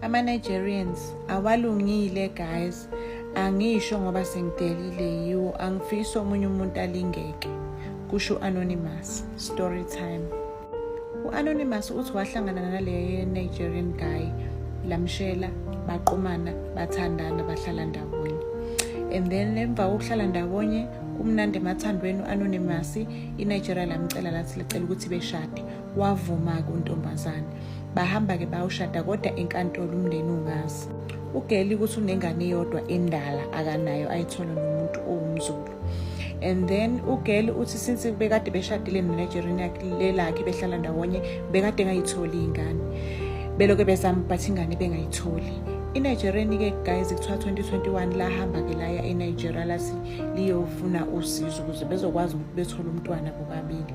ama-nigerians awalungile guys angisho ngoba sengidelile yiwo angifisi omunye umuntu alingeke kusho u-anonymous story time u-anonymous uthi wahlangana nale nigerian guy lamshela baqumana bathandana bahlala ndawonye and then emva kokuhlala ndawonye kumnandi emathandweni u-anonymous inigeria lamcela lathi licela ukuthi beshade wavuma-ke untombazane bahamba-ke bayoshada kodwa enkantolo umndeni ungazi ugeli ukuthi unengane eyodwa endala akanayo ayithola nomuntu owumzulu and then ugeli uthi since bekade beshadile nenigerian yakhe lelakhe behlala ndawonye bekade engayitholi iy'ngane beloke bezama but ingane bengayitholi inigereni ke guys kuthiwa 2021 lahamba ke laya enigeria lathi liyofuna usizo ukuze bezokwazi ukuthi bethole umntwana bobabili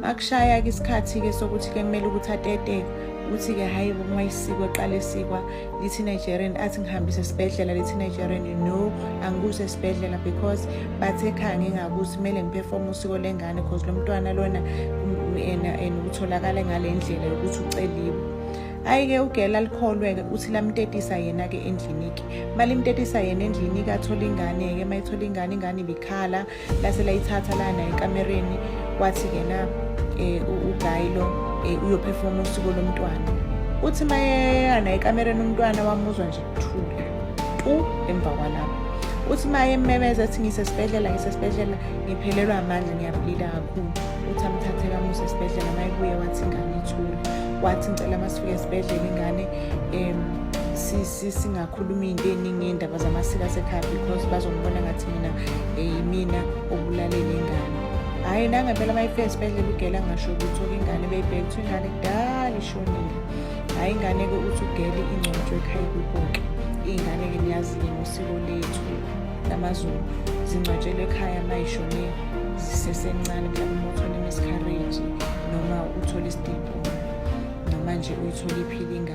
makushaya-ke isikhathi-ke sokuthi-ke kumele ukuthi atete ukuthi-ke hhayi uma isiko eqala esikwa lithi nigerian athi ngihambise esibhedlela lithi nigerian no angikuso esibhedlela because bathe ekhaya ngingakuthi kumele ngiphefome usiko lengane because lo mntwana lona and utholakale ngale ndlela yokuthi uceliwe ayike ugela alikholweke uthi lamtetisa yena-ke endliniki malimtetisa yena endliniki athole ingane-ke uma ethola ingane ingane ibikhala lase layithatha lana ekamereni wathi kena um eh, ugayilo um eh, uyophefoma usuku lomntwana uthi mayeyana ekamereni umntwana wamuzwa nje kuthula tu emva kwalapho uthi maye mmemeza ethi ngisesibhedlela ngisesibhedlela ngiphelelwa amandla ngiyabulila kakhulu uthi amthathe kamuse esibhedlela mayebuye wathi ingane ithule wathi ngicela masifike esibhedlela ingane um singakhulumi into eningi ngey'ndaba zamasiko asekhaya because bazongibona ngathi mina yimina obulalele ingane hhayi nangempela uma ifika esibhedlela ugela ngasho ukuthi oke ingane beyibheke ukuthi ingane kudala ishonile hhayi ingane-ke uthi ugele ingcotshwe ekhaya kuboke iy'ngane-ke niyazi-ke ngosiko lethu lamazulu zingcwatshelwe ekhaya uma ishone zisesencane mhlawumbe uma uthole imiscarriage noma uthole isidibho noma nje uyithole iphile ingane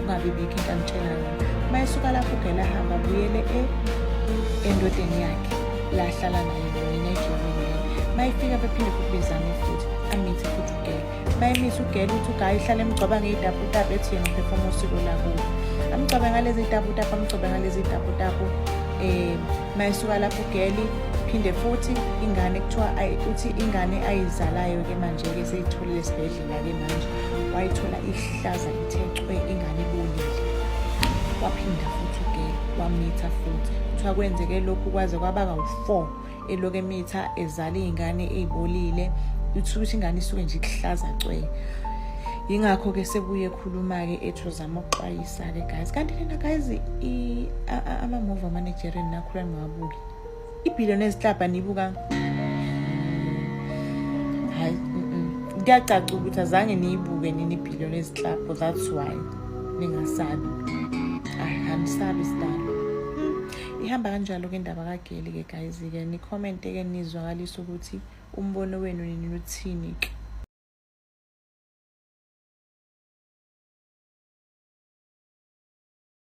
ungabi bikho into amtshelayo uma esuka lapho ugela hamba abuyele e, endodeni yakhe la ahlala nayo mina ejolile uma ifika bephinde futhi bezame futhi amithe futhi ugela uma emisa ugela ukuthi ugayi uhlale emgcoba ngeyitaputapu ethi yena uphefoma usiko lakubo amgcobe ngalezi taputapu amgcobe ngalezi taputapu um eh, uma esuka lapho ugeli phinde futhi ingane kuthiwa uthi ingane ayizalayo-ke manje-ke seyitholile esibhedlela Lake manje wayithola ihlaza ithe cwe ingane ibonile. Waphinda futhi ke wamitha futhi. Kuthiwa kwenzeke lokhu kwaze kwaba kawu-4 eloku emitha ezala iy'ngane ey'bolile. Uthula ukuthi ingane isuke nje ikuhlaza cwe. Yingakho-ke sebuye ekhuluma-ke ethi uzama ukuxwayisa-ke guys. Kanti lena guys ama-move amanigerian nakhula ningawabuki. ibhilo nezihlabha nibuka hayi kuyacaca ukuthi azange niyibuke nini ibhilo nezihlabho that's why ningasabi angisabi sidalo ihamba kanjalo ke indaba kageli ke guys ke nikhomente ke nizwakalisa ukuthi umbono wenu nini uthini ke